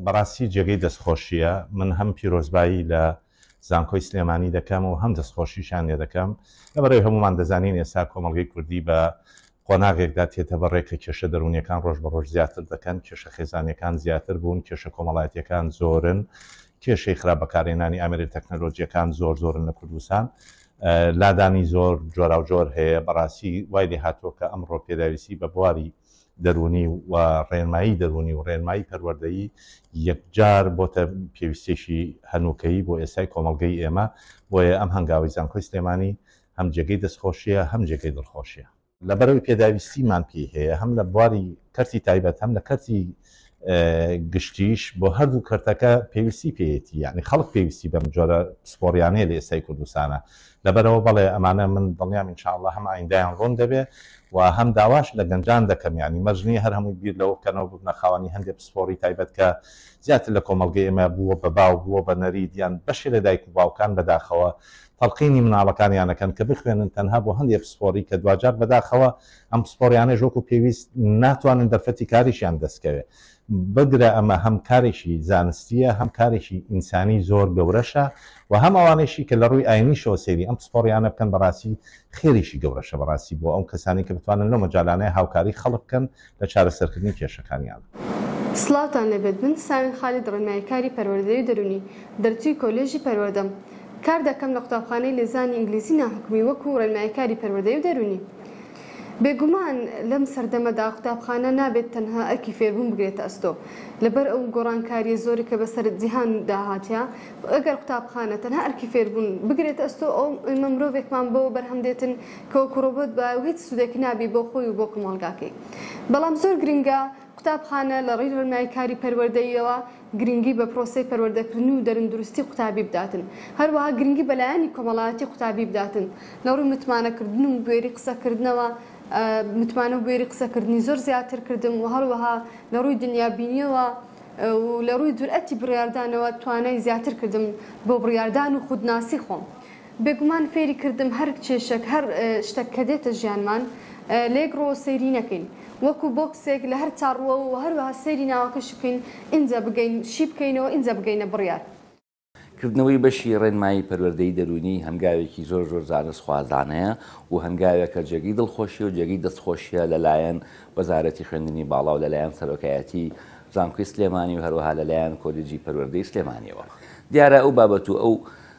بەڕاستی جێگەی دەستخۆشییە من هەم پیرۆزبایی لە زانکۆی سلێمانی دەکەم و هەم دەستخۆشیشان لێ دەکەم لە بەڕێ هەمومان دەزانین ئێستا کۆمەڵگەی کوردی بە قۆناغێکدا تێتە بەڕێ کە کێشە دەرونیەکان ڕۆژ بە ڕۆژ زیاتر دەکەن کێشە خێزانەکان زیاتر بوون کێشە کۆمەڵایەتەکان زۆرن کێشەی خراپ بەکارێنانی ئامرێن تەکنەلۆجیەکان زۆر زۆرن لە کوردستان لادانی زۆر جۆراوجۆر هەیە، بەڕاستی وای لێهاتووە کە ئەمڕۆ پێداویستی بە بواری دەروونی و ڕێنمایی دەروونی و ڕێنمایی پەروەردەیی یەکجار بۆتە پێویستیەکی هەنووکەیی بۆ ئێستای کۆمەڵگەی ئێمە، بۆیە ئەم هەنگاوەی زانکۆی سلێمانی هەم جێگەی دەستخۆشیە هەم جێگەی دڵخۆشیە. لەبەرئەوەی پێداویستیمان پێی هەیە هەم لە بواری کەرتی تایبەت هەم لە کەرتی گشتیش بۆ هەردوو کەرتەکە پێویستی پێیەتی یعنی خەڵک پێویستی بەم جۆرە پسپۆریانەیە لە ئێستای کوردستانە لەبەرەوە بەڵێ ئەمانە من دڵنیام ان شاء اللە هەم ئایندایان ڕوون دەبێ و هەم داواش لە گەنجان دەکەم یعنی مەرج نییە هەر هەمووی بیر لەوە بکەنەوە ببنە خاوەنی هەندێک پسپۆری تایبەت کە زیاتر لە کۆمەڵگەی ئێمە بووە بە باو بووە بە نەریت یان بەشێ لە دایک و باوکان بەداخەوە تەڵقینی مناڵەکانیان ئەکەن کە بخوێنن تەنها بۆ هەندێ پسپۆری کە دواجار بەداخەوە ئەم پسپۆریانەش وەکو پێویست ناتوانن دەرفەتی کاریشیان دەستکەوێ بگرە ئەمە هەم کارێکی زانستیە هەم کارێکی ئینسانی زۆر گەورەشە و هەم ئەوانەیشی کە لەڕووی ئاینیشەوە سەیری ئەم پسپۆریانە بکەن بەڕاستی خێریکی گەورەشە بەڕاستی بۆ ئەو کەسانی کە بتوانن لەو مەجالانەیە هاوکاری خەڵک بکەن لە چارەسەرکردنی کێشەکانیان. سڵاوتان لێبێت من ساوین خالید ڕێنمای کاری پەروەردەی دەرونی دەرچوی کۆلێژی پەروەردەم کار دەکەم لە قوتابخانەی لێزانی ئینگلیزی ناحکومی وەکو ڕێنمای کاری پەروەردەی و دەرونی بێگومان لەم سەردەمەدا قوتابخانە نابێت تەنها ئەرکی فێربون بگرێتە ئەستۆ لەبەر ئەو گۆڕانکاریە زۆرە کە بەسەر جیهان دا هاتیە ئەگەر قوتابخانە تەنها ئەرکی فێربون بگرێتە ئەستۆ ئەو ئێمە مرۆڤێکمان بۆ بەرهەم دێتن کۆک و ڕۆبۆت بە و هیچ سودێک نابی بۆ خۆی و بۆ کۆمەڵگاکەی بەڵام زۆر گرنگە قوتابخانە لە ڕی ڕنای کاری پەروەردەییەوە گرنگی بە پرۆسەی پەروەردەکردن و دەرندروستی قوتابی بداتن هەروەها گرنگی بە لایەنی کۆمەڵایەتی قوتابی بداتن لە ڕوی متمانە کردن و بوێری قسە کردنەوە متمانە و بوێری قسە کردنی زۆر زیاتر کردم و هەروەها لە ڕوی دنیا بینیەوە و لە ڕوی جورئەتی بڕیاردانەوە توانای زیاتر کردم بۆ بڕیاردان و خودناسی خۆم. بێگومان فێری کردم هەر کێشەک هەر شتەک کە دێتە ژیانمان لە یەک ڕوەوە سەیری نەکەین وەکو بۆکسێک لە هەر چار ڕوەوە وە هەروەها سەیری ناوەکەشی بکەین ئینجا بگەین شی بکەینەوە ئینجا بگەینە بڕیار. کردنەوەی بەشی ڕێنمایی پەروەردەی دەروونی هەنگاوێکی زۆر زۆر زانست خوازانەیە و هەنگاوێکە جێگەی دڵخۆشیە و جێگەی دەست خۆشیە لە لایەن وەزارەتی خوێندنی باڵا و لە لایەن سەرۆکایەتی زانکۆی سلێمانی و هەروەها لە لایەن کۆلیجی پەروەردەی سلێمانیەوە دیارە ئەو بابەت و ئەو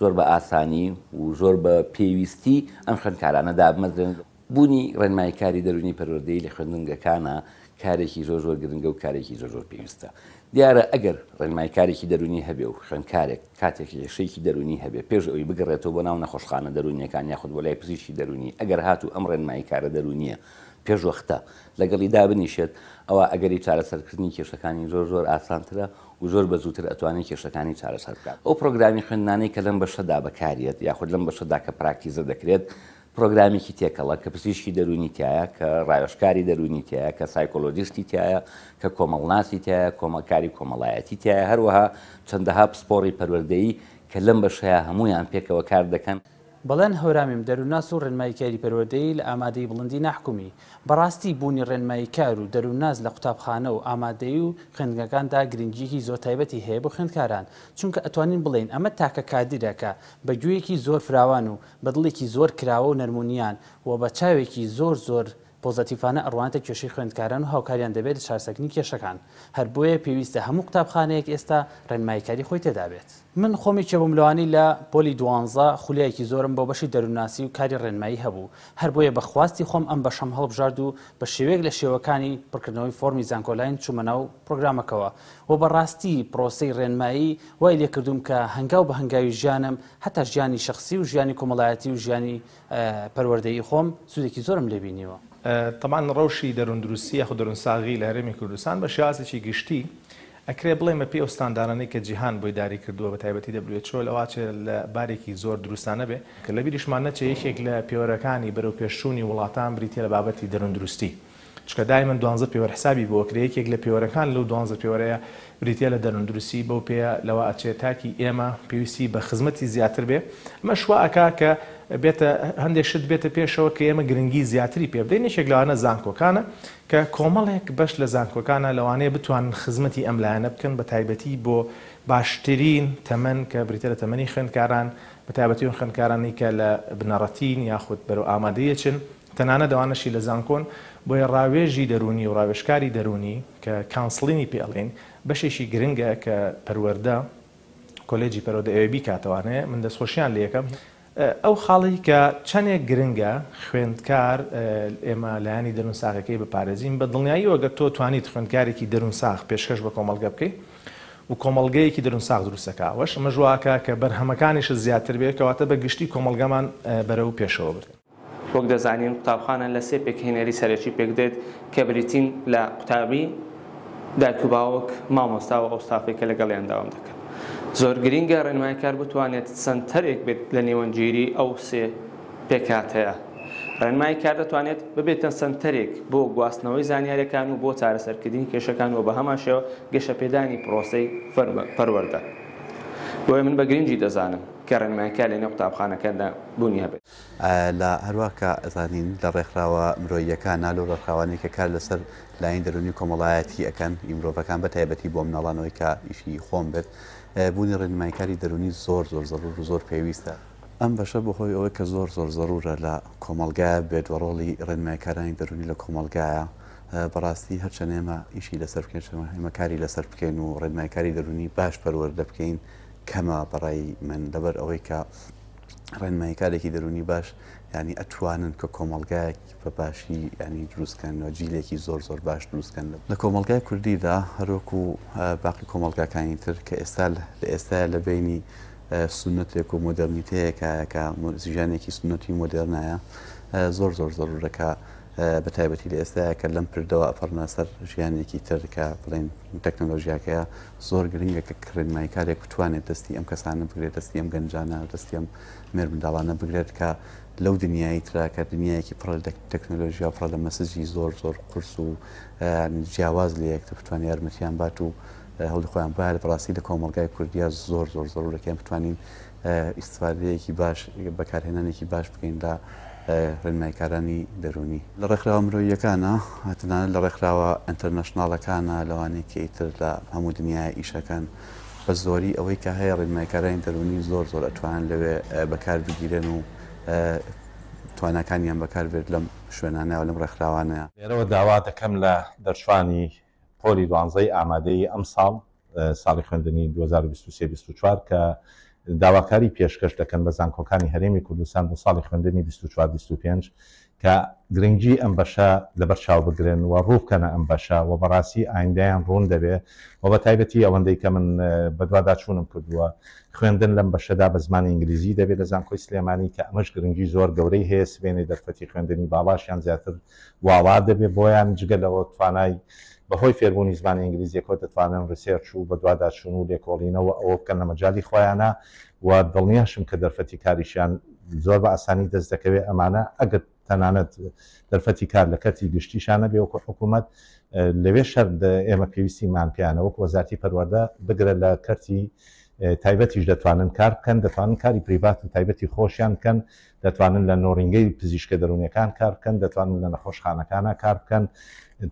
زۆر بە ئاسانی و زۆر بە پێویستی ئەم خوێندکارانە دابمەزرێن. بوونی ڕێنماییکاری دەروونی پەروەردەیی لە خوێندنگەکانا کارێکی زۆر زۆر گرنگە و کارێکی زۆر زۆر پێویستە. دیارە ئەگەر ڕێنماییکارێکی دەروونی هەبێ و خوێندکارێک کاتێک لێشەیەکی دەروونی هەبێ پێش ئەوەی بگەڕێتەوە بۆ ناو نەخۆشخانە دەروونییەکان یاخود بۆ لای پزیشکی دەروونی ئەگەر هاتوو ئەم ڕێنماییکارە دەروونییە پێشوەختە لەگەڵی دابنیشێت ئەوا ئەگەری چارەسەرکردنی کێشەکانی زۆر زۆر ئاسانترە و زۆر بە زووتر ئەتوانێت کێشەکانی چارەسەر بکات. ئەو پرۆگرامی خوێندنانەی کە لەم بەشەدا بەکاریەت یاخود لەم بەشەدا کە پراکتیزە دەکرێت پرۆگرامێکی تێکەڵە کە پزیشکی دەروونی تیایە، کە راوێژکاری دەروونی تیایە، کە سایکۆلۆجیستی تیایە، کە کۆمەڵناسی تیایە، کۆمەڵکاری کۆمەڵایەتی تیایە، هەروەها چەندەها پسپۆڕی پەروەردەیی کە لەم بەشەیا هەموویان پێکەوە کار دەکەن. بەڵێن هەورامیم دەروونناس و ڕێنماییکاری پەروەردەیی لە ئامادەیی بڵندی ناحکومی. بەڕاستی بوونی ڕێنماییکار و دەروونناس لە قوتابخانە و ئامادەیی و خوێندنگەکاندا گرنگییەکی زۆر تایبەتی هەیە بۆ خوێندکاران، چونکە ئەتوانین بڵێین ئەمە تاکە کادیرە کە بە گوێیەکی زۆر فراوان و بە دڵێکی زۆر کراوە و نەرمونیان و بە چاوێکی زۆر زۆر پۆزەتیڤانە ئەڕوانێتە کێشەی خوێندکاران و هاوکاریان دەبێت لە چارەسەکنی کێشەکان، هەر بۆیە پێویستە هەموو قوتابخانەیەک ئێستا ڕێنماییکاری خۆی تێدا بێت. من خۆم یەکێ بووم لەوانەی لە پۆلی دوانزە خولیایەکی زۆرم بۆ بەشی دەروونناسی و کاری ڕێنمایی هەبوو، هەر بۆیە بە خواستی خۆم ئەم بەشەم هەڵبژارد و بە شێوەیەک لە شێوەکانی پڕکردنەوەی فۆڕمی زانکۆلاین چوومە ناو پڕۆگرامەکەوە و بە ڕاستی پڕۆسەی ڕێنمایی وای لێ کردووم کە هەنگاو بە هەنگاوی ژیانم هەتا ژیانی شەخسی و ژیانی کۆمەڵایەتی و ژیانی پەروەردەیی خۆم سودێکی زۆرم لێ بینیوە. تەبعەن ڕەوشی دەرووندروستی یاخود دەروونساغی لە هەرێمی کوردستان بە شێوازێکی گشتی ئەکرێ بڵێین بە پێی ئەو ستاندارانەی کە جیهان بۆی داری کردووە بە تایبەتی WHO لە واچێ لە بارێکی زۆر دروستانە بێ. کە لەبیریشمان نەچێ یەکێک لە پێوەرەکانی بەرەوپێشچوونی وڵاتان بریتیە لە بابەتی دەرووندروستی. چونکە دایمەن دوانزە پێوەر حسابی بۆ ئەکرێ یەکێک لە پێوەرەکان لەو دوانزە پێوەرەیە بریتیە لە دەرونندرسی بەو پێیە لەوە ئەچێ تاکی ئێمە پێویستی بە خزمەتی زیاتر بێ ئەمەش وا ئەکا کە بێتە هەندێک شت بێتە پێشەوە کە ئێمە گرنگی زیاتری پێ بدەین یەکێک لەوانە زانکۆکانە کە کۆمەڵێک بەش لە زانکۆکانە لەوانەیە بتوانن خزمەتی ئەم لایەنە بکەن بە تایبەتی بۆ باشترین تەمەن کە بریتە لە تەمەنی خوێندکاران بە تایبەتی ئەو خوێندکارانی کە لە بنەڕەتین یاخود بەرەو ئامادەیەچن تەنانەت ئەوانەشی لە زانکۆن، بۆیە ڕاوێژی دەروونی و ڕاوێژکاری دەروونی کە کانسڵینی پێ ئەڵێین بەشێکی گرنگە کە پەروەردە، کۆلێجی پەرۆدە ئەوێ بیکاتەوانێ، من دەستخۆشیان لێ ئەکەم. ئەو خاڵەی کە چەنێک گرنگە خوێندکار ئێمە لایەنی دەروون ساغەکەی بپارێزین، بە دڵنیاییەوە گەر تۆ توانیت خوێندکارێکی دەروون ساغ پێشکەش بە کۆمەڵگە بکەی و کۆمەڵگەیەکی دەروون ساغ دروست ئەکا ئەوەش ئەمەش وا ئەکا کە بەرهەمەکانیشت زیاتر بێ کەواتە بە گشتی کۆمەڵگەمان بەرەو پێشەوە بردن. وەک دەزانین قوتابخانە لە سێ پێکهێنەری سەرەکی پێکدێت کە بریتین لە قوتابی، دایک و باوک، مامۆستا و ئەو ستافەی کە لەگەڵیان داوام دەکەن. زۆر گرینگە ڕێنماییکار بتوانێت سەنتەرێک بێت لە نێوەندگیری ئەو سێ پێکهاتەیە. ڕێنماییکار دەتوانێت ببێتە سەنتەرێک بۆ گواستنەوەی زانیاریەکان و بۆ چارەسەرکردنی کێشەکان و بەهەمان شێوە گەشەپێدانی پرۆسەی پەروەردە. بۆیە من بە گرینگی دەزانم کە ڕێنماییکار لەنێو قوتابخانەکاندا بوونی هەبێت. لە هەروا کە ئەزانین لە ڕێکخراوە مرۆییەکانا لەو ڕێکخراوانەی کە کار لەسەر لایەنی دەروونی و کۆمەڵایەتی ئەکەن ی مرۆڤەکان بە تایبەتی بۆ مناڵانەوەی کە ئیشی خۆم بێت بوونی ڕێنمایکاری دەروونی زۆر زۆر زەرور و زۆر پێویستە. ئەم بەشە بە هۆی ئەوەی کە زۆر زۆر زەرورە لە کۆمەڵگایە بێت و ڕۆڵی ڕێنمایکارانی دەروونی لە کۆمەڵگایە بە ڕاستی هەر چەند ئێمە ئیشی لەسەر بکەین چەند ئێمە کاری لەسەر بکەین و ڕێنمایکاری دەروونی باش پەروەردە بکەین کەمە بە ڕای من لەبەر ئەوەی کە ڕێنماییکارێکی دەروونی باش یانی ئەتوانن کە کۆمەڵگایەک بە باشی ینی دروستکەنەوە جیلێکی زۆر زۆر باش دروستکەن لە کۆمەلگای کوردیدا هەروەکو باقی کۆمەلگاکانی تر کە ئێستا لە ئێستا لە بینی سنتێک و مۆدررنیتەیەکایەکە زیژانێکی سنتی مۆدررنایە زۆر زۆر زەرورەکە بە تایبەتی لە ئێستاە کە لەم پردەوە ئەپەڕنا سەر ژیانێکی تر کە بڵێن تەکنەلۆژیاکەیە زۆر گرنگە کە کڕێن مایکارێک بتوانێت دەستی ئەم کەسانە بگرێت دەستی ئەم گەنجانە دەستی ئەم مێر منداڵانە بگرێت کە لەو دنیای تراکە دنیایەکی پڕ لە تەکنەلۆژیا پڕ لە مەسجی زۆر زۆر قرس و جیاواز لە یەکتە بتوان یارمەتیان بات و هەڵی خۆیان بار بڕاستی لە کۆمەلگای کوردیا زۆر زۆر زۆرەکەیان بتوانین ئیستفادەیەکی باش، بەکارهێنانێکی باش بکەین لە ڕێنماییکارانی دەروونی. لە ڕێکخراوە مرۆییەکانە، تەنانەت لە ڕێکخراوە ئینتەرنەشناڵەکانە، لەوانەی کە ئیتر لە هەموو دنیایە ئیش ئەکەن، بە زۆری ئەوەی کە هەیە ڕێنماییکارانی دەروونی زۆر زۆر ئەتوانن لەوێ بەکار بگیرێن و تواناکانیان بەکار بێت لەم شوێنانە و لەم ڕێکخراوانە. لێرەوە داوا دەکەم لە دەرچووانی پۆلی دوانزەی ئامادەیی ئەمساڵ، ساڵی خوێندنی دوو هەزار و بیست و سێ بیست و چوار، کە داواکاری پێشکەش دەکەن بە زانکۆکانی هەرێمی کوردستان بۆ ساڵی خوێندنی بیست و چوار بیست و پێنج کە گرنگی ئەم بەشە لەبەر چاو بگرن و ڕوو بکەنە ئەم بەشە و بەڕاستی ئایندەیان ڕوون دەبێ و بە تایبەتی ئەوەندەی کە من بەدواداچوونم کردووە خوێندن لەم بەشەدا بە زمانی ئینگلیزی دەبێت لە زانکۆی سلێمانی کە ئەمەش گرنگی زۆر گەورەی هەیە سبەینێ دەرفەتی خوێندنی باڵاشیان زیاتر واڵا دەبێت بۆیان، جگە لەوە توانای بەهۆی فێربوونی زمانی ئینگلیزیەکەوە دەتوانن ڕیسێرچ و بەدواداچوون و لێکۆڵینەوە و ئەوە بکەن لە مەجالی خۆیانا و دڵنیاشم کە دەرفەتی کاریشیان زۆر بە ئاسانی دەست دەکەوێت ئەمانە ئەگەر تەنانەت دەرفەتی کار لە کەرتی گشتیشان نەبێ وەکو حکوومەت لەوێ شەر ئێمە پێویستیمان پێیانە وەکو وەزارتی پەروەردە بگرە لە کەرتی تایبەتیش دەتوانن کار بکەن دەتوانن کاری پریڤات و تایبەتی خۆشیان بکەن دەتوانن لە نۆرینگەی پزیشکە دەروونیەکان کار بکەن دەتوانن لە نەخۆشخانەکانە کار بکەن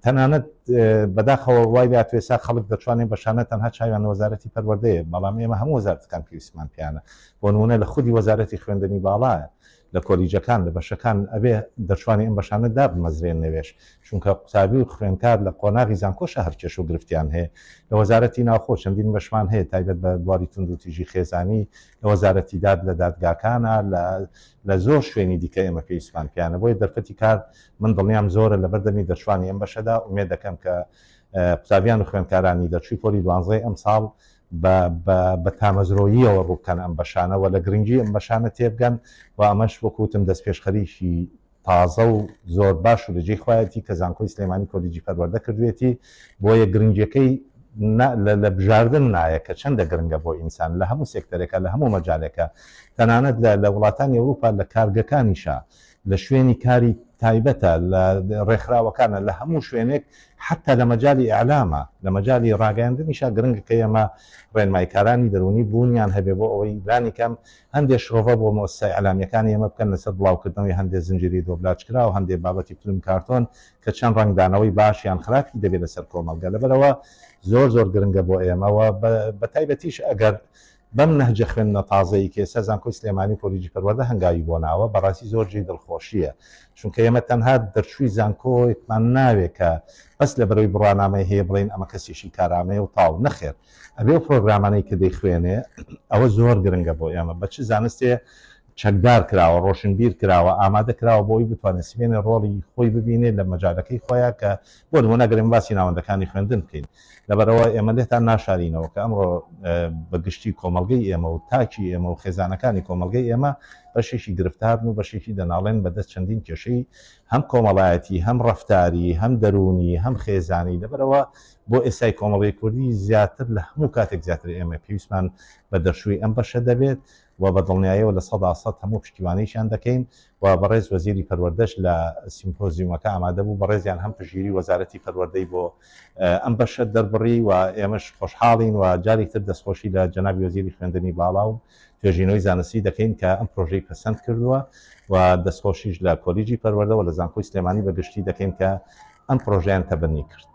تەنانەت بەداخەوە وای لە توێسا خەڵک دەتوانێت بەشانە تەنها چاویان وەزارەتی پەروەردەیە بەڵام ئێمە هەموو وەزارتەکان پێویستمان پیانە بۆ نمونە لە خودی وەزارەتی خوێندنی باڵایە لە کۆلیجەکان لە بەشەکان ئەبێ دەشوانی ئەم بەشانە دابمەزرێن نەوێش چونکە قوتابی و خوێنکار لە قۆناغی زانکۆشە هەرکێش و گرفتیان هەیە لە وەزارەتی ناوخۆ چەندین بەشمان هەیە تایبەت بە بواری تونندوتیژی خێزانی لە وەزارەتی داد، لە دادگاکانە، لە لە زۆر شوێنی دیکە ئێمە پێویستمان پێیانە، بۆیە دەرفەتی کار من دڵنیام زۆرە لەبەر دەمی دەرچوانی ئەم بەشەدا، ئومێد دەکەم کە قوتابیان و خوێندکارانی دەرچووی پۆلی دوانزەی ئەمساڵ بە بە بە تامەزرۆییەوە ڕوو بکەن ئەم بەشانە و لە گرنگی ئەم بەشانە تێبگەن و ئەمەش وەکوو وتم دەستپێشخەریی تازە و زۆر باش و لەجێی خۆیەتی کە زانکۆی سلێمانی کۆلیجی پەروەردە کردوێتی بۆیە گرنگیەکەی لە بژاردن نایە کە چەندە گرنگە بۆ ئینسان لە هەموو سێکتەرێکە لە هەموو مەجالێکە تەنانەت لە وڵاتانی ئەوروپا لە کارگەکانیشە لە شوێنی کاری تایبەتە لە ڕێکخراوەکانە لە هەموو شوێنێک حتا لە مەجای ئەلامە لە مەجای ڕاگەاندنیشا گرنگ کە ئێمە ڕێنمایکارانی دەرونی بوونیان هەبێ بۆ ئەوەی لانیکەم هەندێ شرۆڤە بۆ مۆسسە ئیعلامیەکانی ئێمە بکەن لەسەر بڵاوکردنەوەی هەندێ زنجیری دۆبلاجکراو، هەندێ بابەتی فلم کارتۆن کە چەند ڕەنگدانەوەی باش یان خراپی دەبێ لەسەر کۆمەڵگە، لەبەرئەوە زۆر زۆر گرنگە بۆ ئێمە و بەتایبەتیش ئەگەر بەم نەهجە خوێندنە تازەی کە ئێستا زانکۆی سلێمانی و کۆلیجی پەروەردە هەنگاوی بۆ ناوە بەڕاستی زۆر جێی دڵخۆشیە چونکە ئێمە تەنها دەرچووی زانکۆیەکمان ناوێ کە بەس لەبەرەوەی بڕوانامەی هەیە بڵێین ئەمە کەسیشی کارامەیە و تاو نەخێر ئەبێ ئەو پرۆگرامانەی کە دەیخوێنێ ئەوە زۆر گرنگە بۆ ئێمە بە چ زانستێ چەکدار کراوە ڕۆشنبیر کراوە ئامادە کراوە بۆ ئەوی بتوانێت سبێنێ ڕۆڵی خۆی ببینێت لە مەجالەکەی خۆیان کە بۆ نمونە گەرم باسی ناوەندەکانی خوێندن بکەین لەبەرەوە ئێمە لێتان ناشارینەوە کە ئەمڕۆ بە گشتی کۆمەلگەی ئێمە و تاکی ئێمە و خێزانەکانی کۆمەلگەی ئێمە بەشێکی گرفتارن و بەشێکی دەناڵێن بەدەست چەندین کێشەی هەم کۆمەڵایەتی هەم ڕفتاری هەم دەرونی هەم خێزانی لەبەرەوە بۆ ئێستای کۆمەڵگەی کوردی زیاتر لە هەموو کاتێک زیاتر ئێمە پێویستمان بە دەرچووی ئەم بەشە دەبێت و بە دڵنیایەوە لە سەدا سەد هەموو پشتیوانیشیان دەکەین و بەڕێز وەزیری پەروەردەش لە سیمپۆزیومەکە ئامادە بوو بەڕێزیان هەم پشتگیری وەزارەتی پەروەردەی بۆ ئەم بەشە دەربڕی و ئێمەش خۆشحاڵین و جارێکتر دەستخۆشی لە جەنابی وەزیری خوێندنی باڵا و توێژینەوەی زانستی دەکەین کە ئەم پرۆژەی پەسەند کردووە و دەستخۆشیش لە کۆلیجی پەروەردە و لە زانکۆی سلێمانی بە گشتی دەکەین کە ئەم پرۆژەیان تەبەنی کرد.